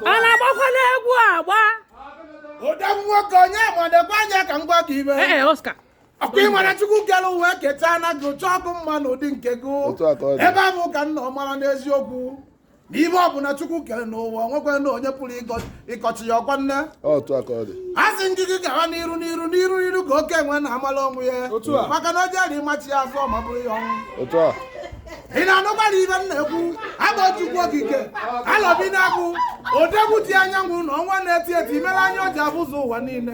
a na-agbakwana egwu agba ọdụm nwoke onye ọma nekwa anya ka m gwa gị ihe ee Oscar ọkwa ị mara chukwu kere ụwa keta na gị otu ọkụ mma n'ụdị nke gị ebe ahụ ka nna ọ mara n'eziokwu na ihe ọ bụla chukwu kere n'ụwa nwekwa na onye pụrụ ịkọchi ya ọkwa nne a sị ndị gị gawa n'iru n'iru n'iru n'iru ka oke enwe na-amala onwe ya maka na o jere ịmachi ya azụ ma bụrụ ya ọnwụ ị na-anụkwara ihe m na-ekwu abụ chukwu okike alọbịnagụ odogwu ji anyanwụ na ọnwa na-eti eti mere anya o ji ahụzu ụwa niile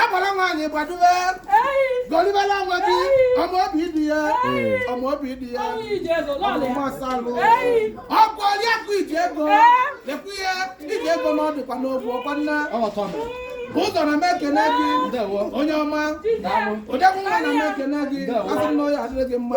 agbara nwaanyị gbaduwe gọlibela onwe gị ọma obi di ya ọma obi di ya ọmụma salụ ọkụ oriakụ iji ego lekwu ihe iji ego na ọ dịkwa n'ogwu ọkwa nna ụzọ na m ekene gị onye ọma odogwu nwa na m ekene gị asị m na ọ ya-adịrị gị mma